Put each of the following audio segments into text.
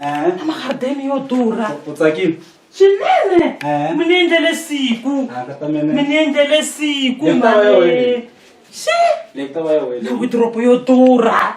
Eh? na magarideni yo durha u tsakile swinene Eh? mi ni endlele siku Ah, ka ta mi mene ni endlele siku Leyi ta va yo mhani wena. xi leyi ku ta va ya wele ni widoropo yo durha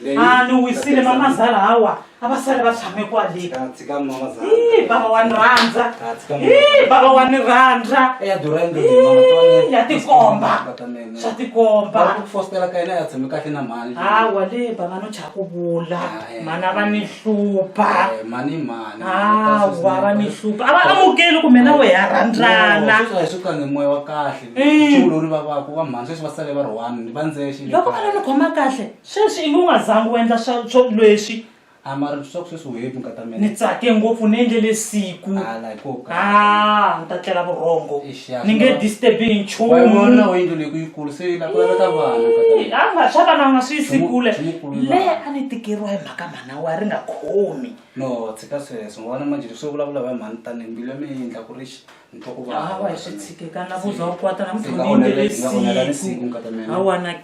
Leyi- a ni wisile mamazala hawa a va sale va tshame kwale Ka tshika mama za Ih, bava wa ni rhandza Ka tshika mama Ih, bava wa ni rhandza ya durha Ih, endleni ya tikomba ka ta mene swa tikomba ku fostela ka yena ya tshame kahle na mhani hawa le bava no chava khuvula mhani a va ni hlupha mani mani hawa va ni hlupha a va amukeli kumbe na wehe a rhandzana hi sukange moya wa kahle xiulori va vaku va mhani sweswi va sale va ri one ni va ndzexe loko va la ni khoma kahle sweswi i nge u nga zangi u endla swa swo leswi a mara swa ku sweswi wehe mi nga ta mina ni tsake ngopfu ni endlele siku hala hi ko ka ni ta tlela vurhongo ni nge disturbi hi nchumu yindlu leyi ku yi kulu se la ku laveka vana a nga swa vana nga swi yisi kule le a ni tikeriwa hi mhaka mhana wa ri nga khomi no tshika sweswo ngo vana manjhe leswi vulavula va mhani tani mbilu ya mina yi endla ku ri xi ni twa ku vava hi swi tshikekana ku za u kwata na muthu ni yindlu lesiku hawana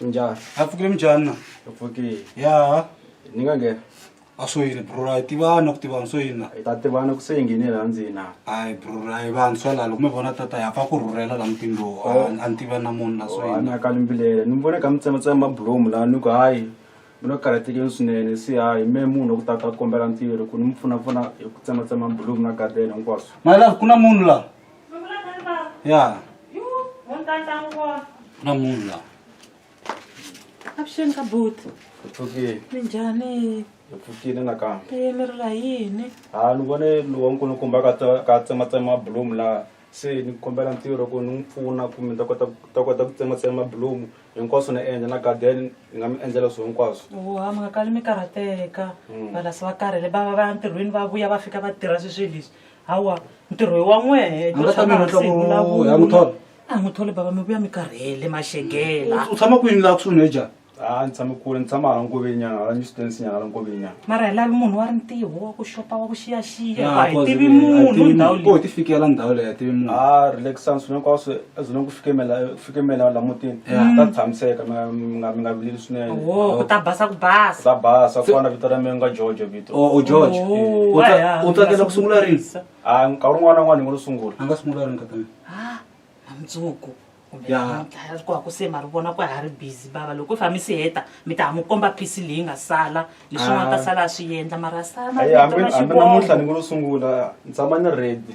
njhani a pfukile minjhani na u pfukile ya ni nga nghena a swo yini brora hi tivana ku tivana swo yini na hi ta tivana ku se hi nghenile la ndzina hayi brora hi vantshwa lalo mi vona tata ya pfa ku rhurhela la mutini lowu a ni tiva na munhu la swo yini ana kalimbilele ni vone ka mi tsematsema mabulomu laha ni ku hayi mi lo karhatekeni swinene se hayi me munhu ku tata a kombela ntirho ku ni mi pfunapfuna hi ku tsematsema mabulomu na gadeni hinkwaswo mali lavi ku na munhu la ya na munhu la avuxeni ka but pfukile minjhani hi pfukile nakambe e mi rila hi yini ha ni vone lowa ni ku ni komba ka tse- ka tsematsema bulomu laha se ni kombela ntirho ku ni n'wi pfuna kumbe ni ta kota ta kota ku tsematsema bulomu hinkwaswo ni endla na garden ni nga mi endlela swilo hinkwaswo wa mi nga kali mi karhateka valasi va karhele va va va ya ntirhweni va vuya va fika va tirha swi swi leswi hawa ntirho hi wa n'wehe A nga ta mi rhandza ku ya n'wi thola. a n'wi tholi bava mi vuya mi karhele maxegela u tshama kwini laha kusuhi neja a ni tshame kule ni tshama hala nkovenyana hala newstance nyana hala nkovenyana mara hi lavi munhu wa ri ntiho wa ku xopa wa ku xiyaxiya a hi tivi munhu ndhawu leyi ti fikela ndhawu leyi a tivi munhu a relaxan swilo hinkwaswo ezoleni ku fikemela fike mina la mutini ta tshamiseka mi nga- mi nga mi nga vileli swinene wo ku ta basa ku basa ta basa ku fana vito ra mina nga george vito o o george Oh, u ta- aya, u tsakela ku sungula rini ngasi a nkarhi un'wana na un'wana hi ngo lo sungula a nga sungula rini ka mina Ah, na mundzuku kumbe Ya. namuntlha ku haku se ma ri vona ku ha ri busy bava loko i fami si heta mi ta ha mu komba phisi leyi nga sala leswi nga ta Ah. sala a swi endla mara sala ayi hambi hambi namuntlha ni ngo lo sungula ni tshama ni ready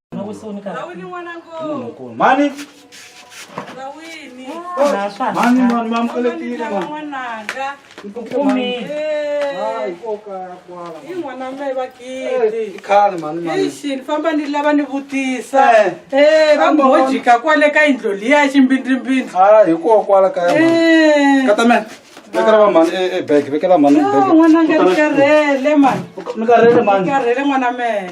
mani mani mani mamukelekile ikhale mani mani Ixini, famba ni lava ni vutisa Eh. Eh, va Famba wona. ngojika kwale ka yindlo liya ximbindrimbindri ha hikokwala kaya mani Eh, katamela vekela va mani e- e bag vekela mani ah, n'wananga ni karhele mani ni karhele ni mani karhele n'wana mehe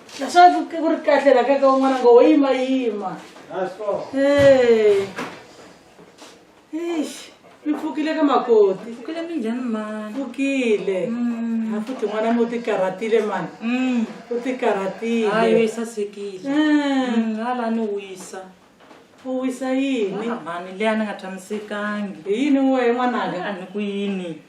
naswona ku ku ri kahle la ka ka un'wana ngo wo yimayima Hey. Eish, mi pfukile ka makoti Kule minjhani mani? pfukile Mm. a futhi n'wana mi u tikarhatile mani Mm. u Hayi tikarhatile we sasekile. Mm. Mm, hala ni wisa. u wisa yini Ah, mani leyi a ni nga tshamisekangi. hi yini wehe n'wananga A ni ku yini?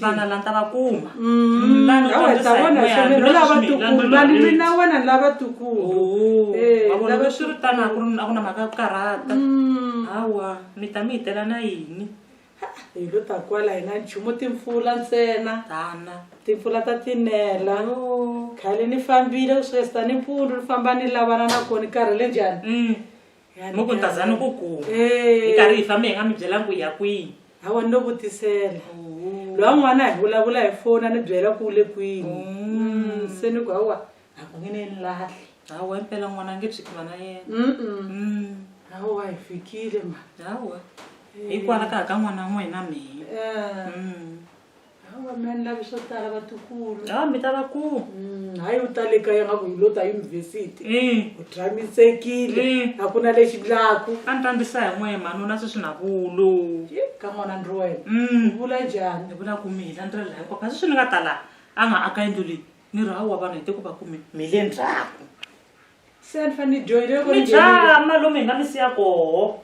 vana la ta va kuma mm, lani mina wena ni lava tukulu eh, loko swi ri tano a ku na mhaka ku karhata mm. hawa mi ta mi hitela na yini hi lo ta kwala hina nchumu timpfula ntsena tana timpfula ta tinela khale ni fambile ku sukesita ni mpfulu ni famba ni lavana na kona karhi le njhani mm. mu ku ntazana ku kuma hi karhi hi fambe hi nga mi byela ku ya kwihi hawa ni lo vutisela lowa n'wana hi vulavula hi fona ni byela ku le kwini Mm, se ni ku hawa a ku nge ni ni lahli hawa impela n'wana a nge byi tiva na yena Mm, hawa hi fikile ma hawa hikwalaho ka ka n'wana n'wina mina Eh, Mm. hawa mi a ni lavi swo tala vatukulu ha mi ta va ku Mm, hayi u tale kaya nga ku hi lo ta yunivhesiti um u tshamisekile Mm. a ku na lexi ndlaku a ni tandisa hi n'we manuna sweswi na vulu Yi, ka n'wana ndri wena um u vula njhani ni vula ku mi hila ndlela layo papa sweswi ni nga ta laha a nga aka yindlu leyi ni ri hawa vanhu hi te ku va ku mi mi le ndzhaku se a ni fanele ni dyohile loko ni mi nghenile. dyaa malume hi nga mi siya koho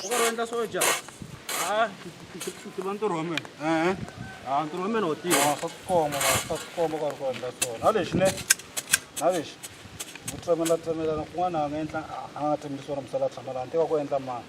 ukaroenda soja tiba ntirho wa mina ehe a ntirho wa mina wo tiva Ah, swa tikomba ma swa tikomba ka ri ku endla swona na lexi ne na lexi ku tsemela tsemelana kun'wana a nga endla a nga tsemeli swona misala tshama laha ntika ku endla mani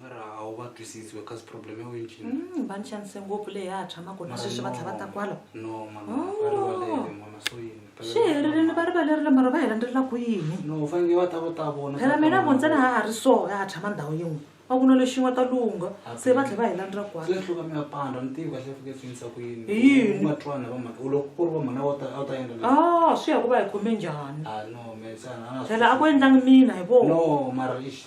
ra a wu va twisisi we kasi problem ya wena cini Mm, va ni xanise ngopfu leyi ya ha tshamaka na Mara sweswi va no. tlhava ta kwala no mama Oh. va rivalele mama so yini Phela- swi helerile va rivalerile mara va hi landzelela ku yini no u fanele va ta va ta vona phela mina vo ntsena ha ha ri so ya ha tshama ndhawu yin'we va ku na lexin'we ta lungha se va tlhela va hi landzelela kwala swi hluka mi ya pandza ni tivi kahle fike swinisa ku yini Hi yini? va twana va mhana u loko ku ri va mhana a wu ta a wu ta endla leswi. a swi ya ku va hi khome njhani ah no me sana phela a ku endlangi mina hi vona no mara ixi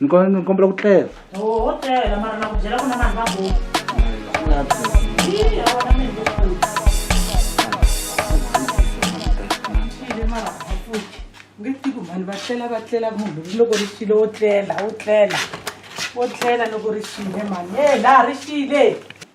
ni kombela ku tlela oho tlela mara na ku byela ku na vanhu va bo nge tivi ku vanhu va tlela va tlela munhu loko ri xile wo tlela wo tlela wo tlela loko ri xile mani e laha ri xile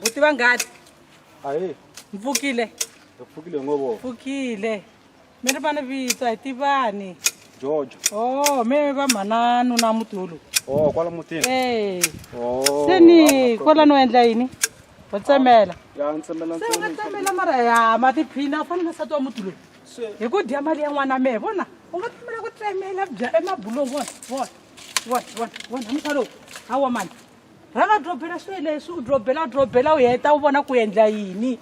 buti va ngati mpfukile mpfukile mi ri vana vito hi tivani jojo o mi va mhananu na mutulu o kwala mutini e se ni kwala no endla yini va tsemela ya tsemela tsemela mara ya matiphina u fanele sati wa mutulu hi ku dya mali ya n'wana mehe vona u nga pfumela ku tsemela bya emabulongo vona vona vona vona vona musa lowu hawa mani rhanga drobela swilo leswi u drobela u drobela u heta u vona ku endla yini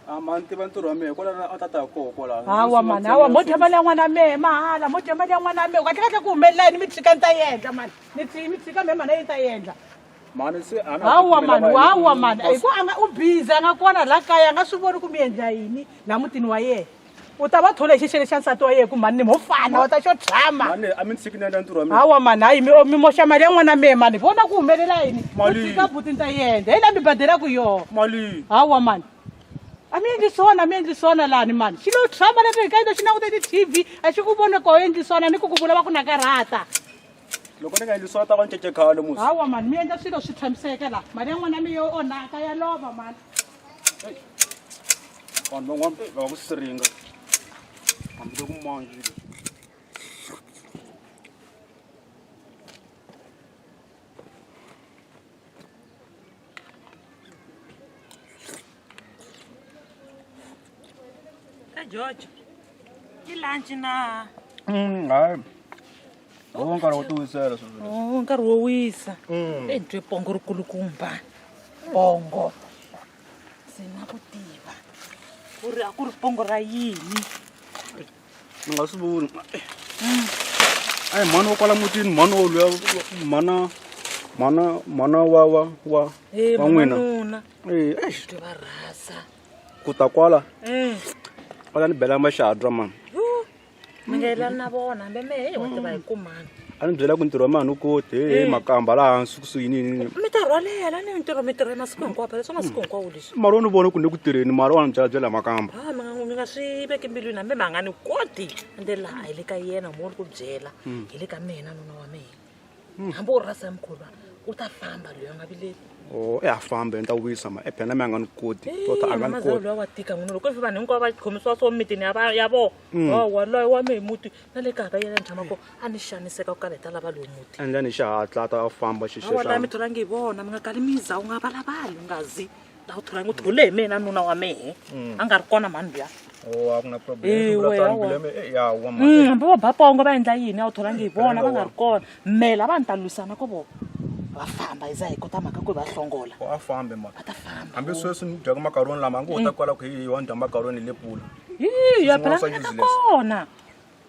Ah, mani tiva ntirho wa mehe kwalana a tata koho kwalano hawa mani hawa mo dya mali ya n'wana mehe mahala mo dya mali ya n'wana mehe kahle kahle ku humelela yini mi tshika ni ta yi endla mani ni tshika mehe mana yi ta yi endla mhani se a na ha ku hawa pfumela mani va hawa yini? mani Boss, hikuva a nga u biza a nga kona laha kaya a nga swi voni ku mi endla yini laha mutini wa yena u ta va thole hi xixele xa nsati wa yena ku mhani ni mo fana wa ta xo tshama mhani a mi ni sikinela ntirho wa mina hawa mani hayi mi o- mi moxa mali ya n'wana mehe mani hi vona ku humelela yini Mali. u tshika buti ni ta yendla hi laha mi badelaku yona mali hawa mani a mi endli swona a mi endli swona lani mani xi lo tshama leswi hi kaile xi langute ti-tv a xi ku voni ku endli swona ni ku ku vula va ku nakarhata loko ni nga endli swona ta va ncece khale musi hawa mani mi endla swilo swi tshamiseke laha mali ya n'wana mi yo onhaka ya lova mani vanhu van'wana eh, va va ku siringa hambi loku manje Ka George. Ki lunch na. Mm, hayi. Wo nkarhi wo tiwisela sweswi. Oh, nkarhi wo wisa. Mm. Hey, ntwe pongo ri kulukumba. Pongo. Sina ku tiva. Ku ri a ku ri pongo ra yini? ni nga swi voni a hi mhani wa kwala mutini mhani wa luya mhana mhana mhana wa wa wa Eh, wa n'wina mhanuna. Eh, eish, Ti va rhasa. ku ta kwala Eh. kwala ni bela maxadra mani Yo, mi nga yelani na vona hambe mehe wa tiva hi kumani a ni byela ku ntirho wa mani u kote Eh. makamba laha hansi kusuhi nini mi ta rhwalela ni mintirho mi tirha masiku hinkwapo leswi masiku hinkwawo leswi mara wa ni vona ku ni le ku tirheni mara wa ni byela byela makamba ha mi nga mi nga swi veki mbilwini hambi mi nga ni koti ende laha hi le ka yena mo ni ku byela Mm. hi le ka mina nuna wa mina hambi u rasa ya mukhuva u ta famba loyi a nga vileli o e ha fambe ni ta wisa ma ephena mi a nga ni koti tota a nga ni mamazalo koti loyi wa tika n'wina loko ivi vanhu hinkwavo va khomisiwa swo mitini ya va- ya vona Mm. wa waloye wa mehe muti na le kaya ka yena ni tshama ko a ni xaniseka ku kala hi ta lava lowu muti endla ni xihatla a ta a famba awa xixexa mi tholangi hi vona mi nga kali miza u nga valavali u nga zi la u tholangi u thole hi mina nuna wa mehe a nga ri kona mhani luya Oh, a ku na problem. Eh, Sungula we, tani awa. kuleme, eh, ya, wa mali. Mm, hambi va bapongo va endla yini a wu tholangi hi vona va nga ri kona mela va ni ta lwisana ko vona va famba hi za hi kota mhaka ku hi va hlongola Oh, a fambe mali. va ta famba Hambi sweswi ni dyaka makaroni lama a ngo ta kwala ku hi wa ni dya makaroni hi le pula. hi ya Swin'wana swa pelangana ka useless. kona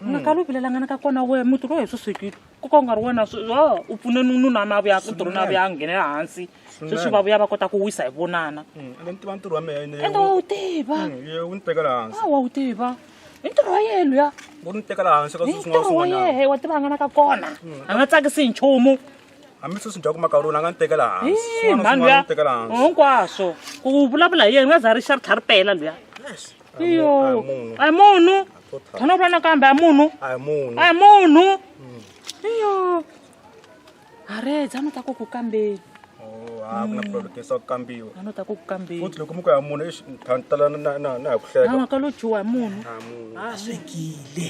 nga kala u vilelangana ka kona we muti lowu hi swi swekile ku ka u nga ri wena swi- oh, u pfune nu- nuna na vuya ku tirhu na vuya a nghene hansi sweswi va vuya va kota ku wisa hi vonana Mm, ende ni tiva ntirho wa mina ende wa wu tiva Mm, ye wu ni tekela hansi a wa wu tiva i ntirho wa yena luya wu ni tekela hansi ka i swilo swin'wana ntirho wa swin'wanyana yehe wa tivangana ka kona a nga tsakisi hi nchumu hambi sweswi dya ku makaroni a nga ni tekela hansi Ih, Swin'wana mhani swin'wana luya ni tekela hansi hinkwaswo ku vulavula hi yena nga za ri xa ri tlha ri pela luya Yes. A hi iyo mu- a hi munhu a hi munhu Total. tshana u vula nakambe a hi munhu a hi munhu a hi munhu iyo are dzano ta ku ku kambeni Oh, a ku na problem kesa ku kambiwa dzano ta ku ku kambeni futhi loko mi ku ya munhu exi tala na na na hi ku hleka nawa ka lo dyiwa hi munhu a hi munhu a swekile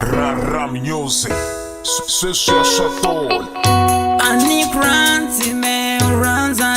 Rara music, sweswi ya swa tola. Ani Grant, me Ranza,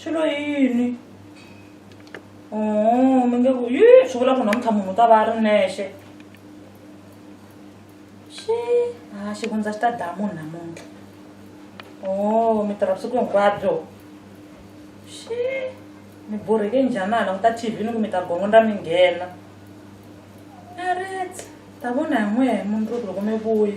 xilo hi yini o oh, mi nge ku yi swi vula ku namuntlha munhu u ta va a ri nexe xi a ah, xivundza xi ta daya munhu namuntlha o oh, mi tirha vusiku hinkwabyo xi mi borheke njhanana ku ta tv ni ku mi ta gongondra mi nghena a ri ta vona hi n'wehe mundzuku loko mi vuyi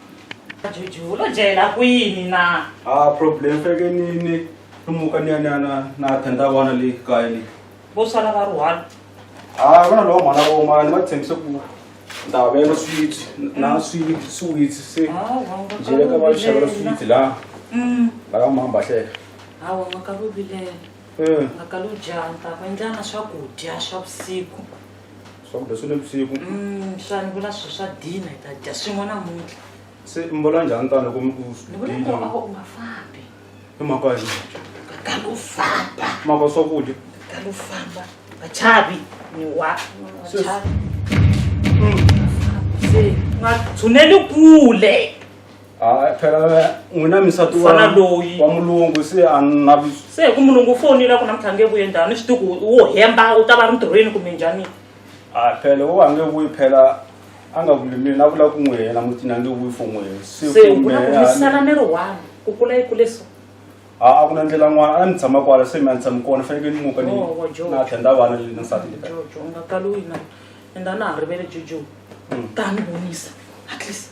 Juju, lo jela kwini na? Ah, problem feke ni ni lumuka ni ni na na tenda wana le kaya le. Bo sala ba ruhana. Ah, vana lo mwana wo mani va tshembise ku ndavelo sweet na sweet sweet se. Ah, wa nga Jele ka va xavela sweet la. Mm. La ka mamba hle. Ah, wa nga ka lo bilela. Eh. Nga ka lo janta, va ndlana swakudya swa vusiku. swakudya swa le vusiku Mm, xana ku na swi swa dina hi ta dya swin'we namuntlha se mi vona njhani tani loko mi ku ni vona ku ava u nga fambi i mhaka ya yini? kala u famba mhaka ya swakudya kala u famba vachavi ni wa vachavi se u nga tshuneli kule hayi phela n'wina misati wa Mfana loyi. wa mulungu se a ni na vis- se hi ku mulungu u fonile ku namuntlha nge vuye njhani swi tiku wo hemba u ta va ri ntirhweni kumbe njhani a phela wo a nge vuyi phela a nga vuli mina a vula ku n'wi hela mutini a nge vuyi for n'wi hela se se u vula ku mehe, misala ni ri one ku kula yi kule so a a ku na ndlela n'wana a ni tshama kwala se mi a ni tshami kona fanekele ni muka ni Oh, wa Joe. na tlhenda vana le na nsati leta jojo u nga kali u yi na enda na ha rivele jojo ta ni vonisa at least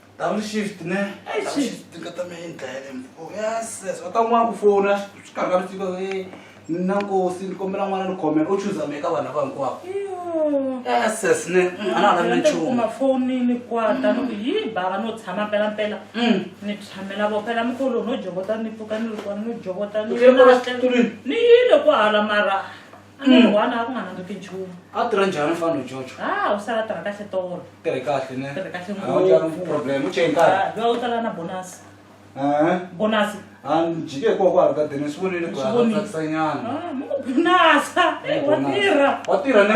double shift ne atanwakufouna svikarikavitiko na nkosi ni kombela n'wana ni khomela u chuza mi eka vanhu lava hinkwavo ss ne mm, a na ha lavi ni nchumu kuma foni ni kwata ni ku yi bava no tshama mpelampela Mm. ni tshamela vo phela mikolo no jovota ni pfuka ni ri kona ni jovota ni Utlele kwala xitulwini? ni yile ku hala mara a ni ri one a ku nga nandziki nchumu a tirha njhani mfana jojo ha u sala tirha kahle tolo tirhe kahle ne tirhe kahle ngopfu problem u cheni kahle ha loyi u tala na bonus eh bonus a ni jike hikokwalaho ka deni swi vonile ku haasanyana bonus wa tirha wa tirha ne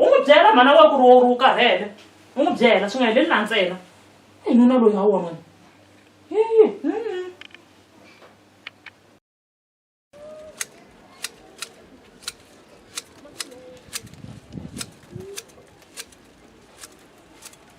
u n'wi byela mhana wa ku ri wo ri wu karhele u n'wi byela swi nga heleli na ntsena i nuna loyi ha wona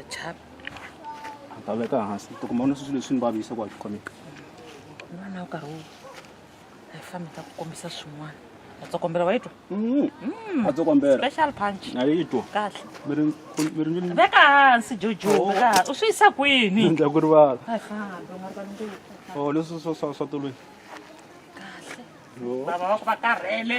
achap ta veka hansi to kuma na swilo leswi ni vavisa ku a swi khomeka n'wana wu karhi wu a yi fambi ta ku kombisa swin'wana a tsokombela wa yi twa mm-hmm. mm. a tsokombela special punch a yi twa kahle miri miri miri veka hansi jojo oh. veka hansi u swi yisa kwini ndla ku rivala a yi fambi nga rivala ndzi oh leswi swa swa swa tolweni kahle baba va ku va karhele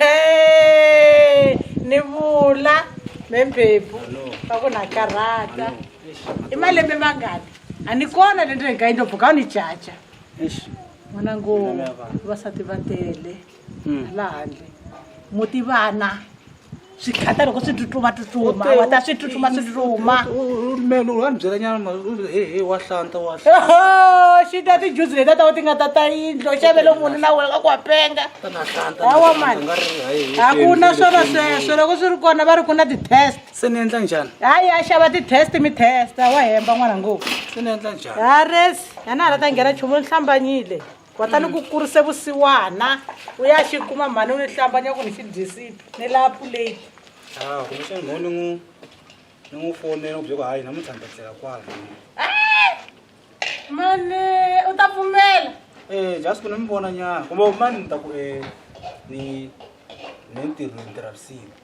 Hey, ni vula membebu va ku na karhata i malembe mangani a ni kona le ndleni ka yindlo buka u ni caca n'wana ngo vasati va tele laha handle muti vana swi tlhata loko swi tsutsuma tsutsuma wa ta swi tsutsuma swi tsutsuma melo wa ni byela nyana ma he he wa hlanta wa xi ta tijuzi leti a ta va ti nga ta ta yindlo xavelo munhu na wena ka ku wa penga hawa mani a ku na swona sweswo loko swi ri kona va ri ku na ti-test se ni endla njhani hayi a xava ti-test mi testa wa hemba n'wana ngopfu se ni endla njhani ha resi a na ha la ta nghena nchumu ni hlambanyile kutani ku kurise vusiwana u ya xi kuma mhani u ni hlambanya ku ni xi dyisile ni laha puleti Ah, kumbexana mhani ni n'wi ni n'wi fonela ku bye ku hayi namuntlha ni ta tlela kwala mani u ta pfumela Eh, just ku ni mi vona nyana kumbe mani ni ta ku eh, ni ni ntirho ni tirha vusiku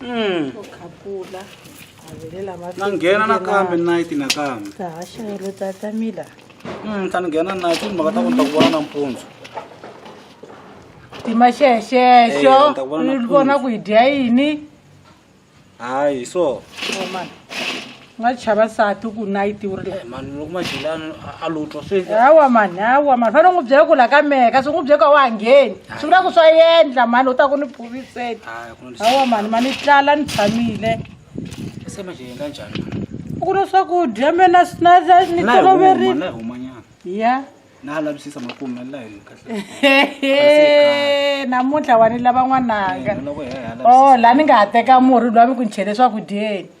Mm. u khapula a velela na nghena nakambe nayiti nakambe ta haxelo tata mila Mm, ta ni nghena nayiti mhaka ta ku ni ta ku vona nampundzu tima xexexo Eya, ni ta vona u vona nampundzu. ku hi dya yini hayi so omana nga chava nsati u ku nayiti wu ri mani loko maxilani a lo twa se hawa mani hawa mani fanele u n'wi byela ku la ka mehe kasi u n'wi byela ku a wa ha ngheni swi vula ku swa yendla mani u ta ku ni phuviseni hawa mani mani tlala ni tshamile se maxilani ka njhani u ku na swakudya me na ni toloverile ya na lavisisa makume la hi kahle namuntlha wa ni lava n'wananga o oh, la ni nga ha teka murhi lwa mi ku ni chele swakudyeni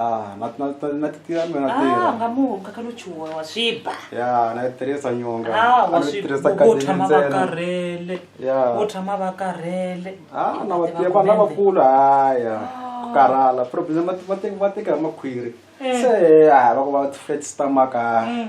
Ah, na na na na titira mina Ah, tira. nga muka ka luchuwa wa swiba Ya, na tirisa nyonga. Ah, wa A ni swi tirhisa vo kahle tshama va ntsena. karhele Ya. vo tshama va karhele Ah, na vatirhi vanhu lavakulu haya. Ku karhala. Problem va va teka va teka hi makhwiri. Se haya va ku va flat stomach. ah. Mm.